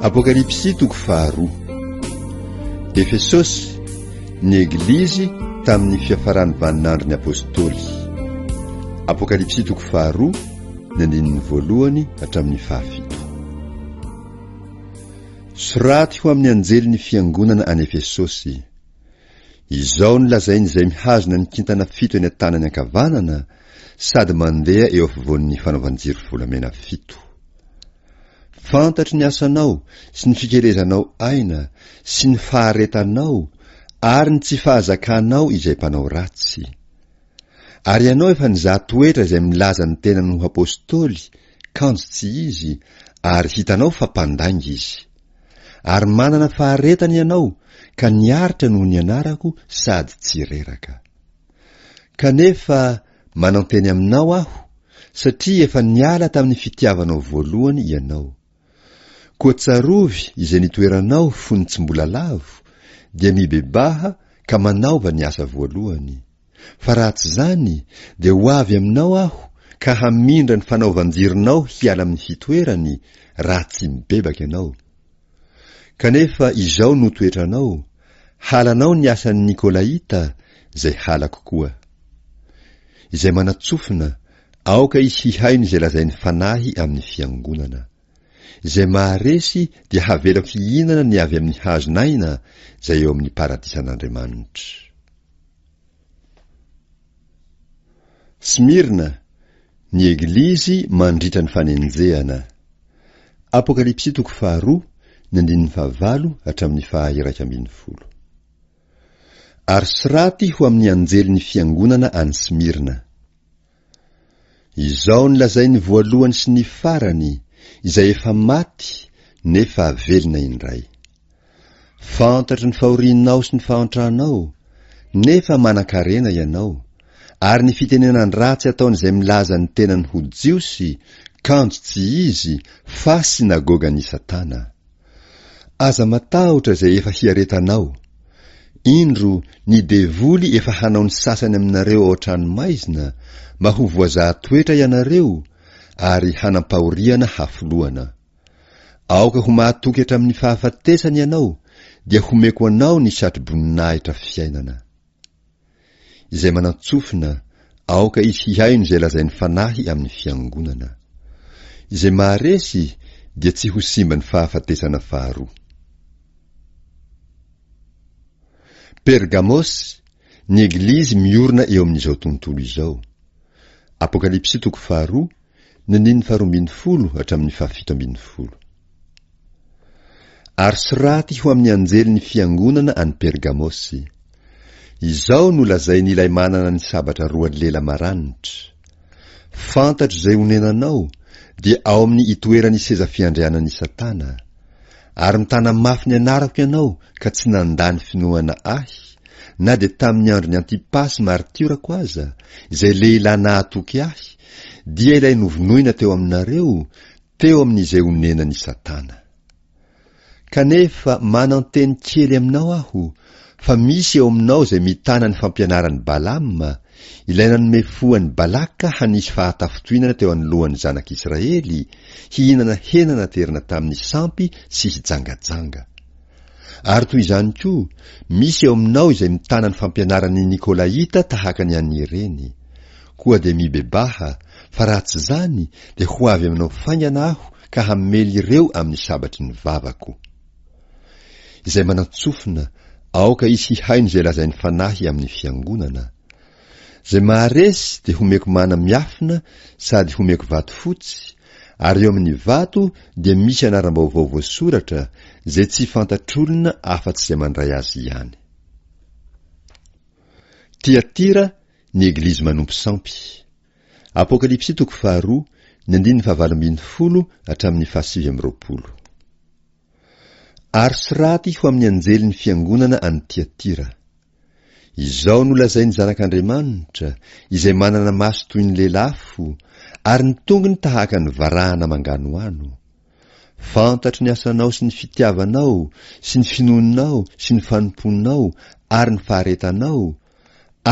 Apokalypsy toko faharoa. Efesosy, ny Eglizy tamin'ny fiafaran'ny vaninandron'ny Apôstôly. Apokalypsy toko faharoa, ny andininy voalohany hatramin'ny fahafito. Soraty ho amin'ny anjelin'ny fiangonana any Efesosy. Izao no lazain'izay mihazona ny kintana fito eny an-tanany ankavanana sady mandeha eo afovoan'ny fanaovan-jiro volamena fito. Fantatro ny asanao sy ny fikelezanao aina sy ny faharetanao ary ny tsy fahazakanao izay mpanao ratsy. Ary ianao efa nizaha toetra izay milaza ny tenany ho Apostoly, kanjo tsy izy, ary hitanao fa mpandainga izy. Ary manana faharetana ianao ka niaritra noho ny anarako sady tsy reraka. Kanefa, Mananteny aminao aho, satria efa niala tamin'ny fitiavanao voalohany ianao. Koa tsarovy izay nitoeranao fony tsy mbola lavo, dia mibebaha ka manaova ny asa voalohany. Fa raha tsy izany, dia ho avy aminao aho ka hamindra ny fanaovan-jironao hiala amin'ny fitoerany, raha tsy mibebaka ianao. Kanefa izao no toetranao, halanao ny asan'ny Nikolaita, izay halako koa. Izay manatsofina, aoka izy hihaino izay lazain'ny Fanahy amin'ny Fiangonana. Izay maharesy dia havelako hihinana ny avy amin'ny hazon'aina izay eo amin'ny paradisan'Andriamanitra. Smirna, ny Eglizy mandritra ny fanenjehana. Apokalypsy toko faharoa, ny andininy fahavalo hatramin'ny faha-iraika ambin'ny folo. Ary soraty ho amin'ny anjelin'ny fiangonana any Smirna. Izao ny lazain'ny voalohany sy ny farany, izay efa maty nefa velona indray. Fantatro ny fahorianao sy ny fahantranao, nefa manan-karena ianao, ary ny fitenenan-dratsy ataon'izay milaza ny tenany ho Jiosy, kanjo tsy izy, fa synagogan'i Satana. Aza matahotra izay efa hiaretanao. Indro ny devoly efa hanao ny sasany aminareo ao an-trano maizina mba ho voazaha toetra ianareo ary hanam-pahoriana hafoloana. Aoka ho mahatoky hatramin'ny fahafatesana ianao dia homeko anao ny satroboninahitra fiainana. izay manantsofina aoka izy hihaino izay lazain'ny Fanahy amin'ny Fiangonana. Izay maharesy dia tsy ho simba ny fahafatesana faharoa. Pergamosy, ny Eglizy miorina eo amin'izao tontolo izao. Apokalypsy toko faharoa, Ny niny faharoa ambin'ny folo hatramin'ny fahafito ambin'ny folo. Ary soraty ho amin'ny anjelin'ny fiangonana any Pergamosy. Izao no lazain'ilay manana ny sabatra roa lela maranitra, Fantatro izay onenanao, dia ao amin'ny itoeran'ny seza fiandrianan'i Satana, ary mitana mafy ny anarako ianao ka tsy nandà ny finoana Ahy, na dia tamin'ny andron'i Antipasy maritiorako aza, izay lehilahy nahatoky Ahy Dia ilay novonoina teo aminareo teo amin'izay onenan'i Satana. Kanefa mananteny kely aminao aho fa misy eo aminao izay mitana ny fampianaran'i Balama, ilay nanome fo an'i Balaka hanisy fahatafintohinana teo anoloan'ny zanak'Israely, hihinana hena naterina tamin'ny sampy sy hijangajanga. Ary toy izany koa, misy eo aminao izay mitana ny fampianaran'ny Nikolaita tahaka ny an'ny reny. Koa dia mibebaha, fa raha tsy izany, dia ho avy aminao faingana Aho ka hamely ireo amin'ny sabatry ny vavako. Izay manan-tsofina, aoka izy hihaino izay lazain'ny Fanahy amin'ny Fiangonana. Zay maharesy dia homeko mana miafina sady homeko vato fotsy, ary eo amin'ny vato dia misy anaram-baovao voasoratra izay tsy fantatr'olona afa-tsy izay mandray azy ihany. Tiatira, ny Eglizy manompo sampy. Apokalypsy toko faharoa, ny andininy fahavalo ambin'ny folo hatramin'ny fahasivy amby roapolo. Ary soraty ho amin'ny anjelin'ny fiangonana any Tiatira. Izao no lazain'ny Zanak'Andriamanitra, izay manana maso toy ny lelafo, ary ny tongony tahaka ny varahana manganohano. Fantatro ny asanao sy ny fitiavanao, sy ny finoanao, sy ny fanompoanao, ary ny faharetanao,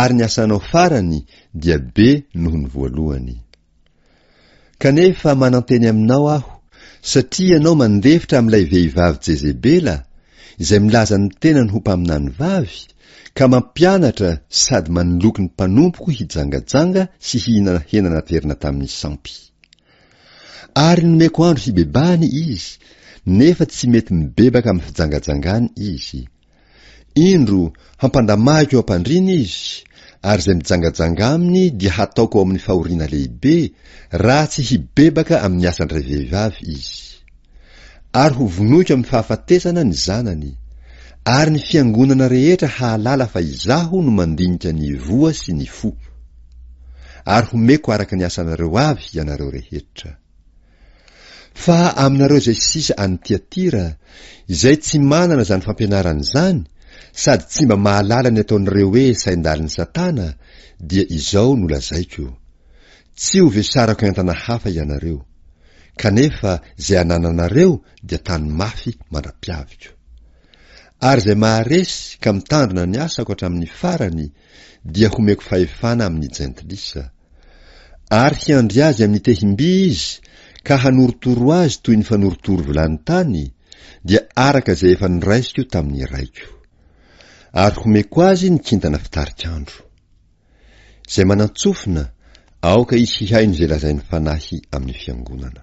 ary ny asanao farany dia be noho ny voalohany. Kanefa mananteny aminao aho, satria ianao mandefitra amin'ilay vehivavy Jezebela, izay milaza ny tenany ho mpaminany vavy, ka mampianatra sady manoloky ny mpanompoko hijangajanga sy hihinana hena naterina tamin'ny sampy. Ary nomeko andro hibebahany izy, nefa tsy mety mibebaka amin'ny fijangajangany izy. Indro, hampandamahiko am-pandriana izy, ary izay mijangajanga aminy dia hataoko ao amin'ny fahoriana lehibe, raha tsy hibebaka amin'ny asan-dray vehivavy izy. Ary hovonoiko amin'ny fahafatesana ny zanany, ary ny fiangonana rehetra hahalala fa Izaho no mandinika ny voa sy ny fo. Ary homeko araka ny asanareo avy ianareo rehetra. Fa aminareo izay sisa any Tiatira, izay tsy manana izany fampianarana izany, sady tsy mba mahalala ny ataon'ireo hoe sain-dalin'i Satana, dia izao no lazaiko, Tsy ho vesarako entana hafa ianareo, kanefa izay anananareo dia tano mafy mandra-piaviko. Ary izay maharesy ka mitandrina ny asako hatramin'ny farany, dia homeko fahefana amin' ny jentilisa, ary hiandry azy amin' ny tehim-by izy ka hanorotoro azy toy ny fanorotoro vilany tany, dia araka izay efa niraisiko tamin' ny raiko. Ary homeko azy ny kintana fitarik' andro. Izay manan-tsofina, aoka izy hihaino izay lazain'ny Fanahy amin'ny fiangonana.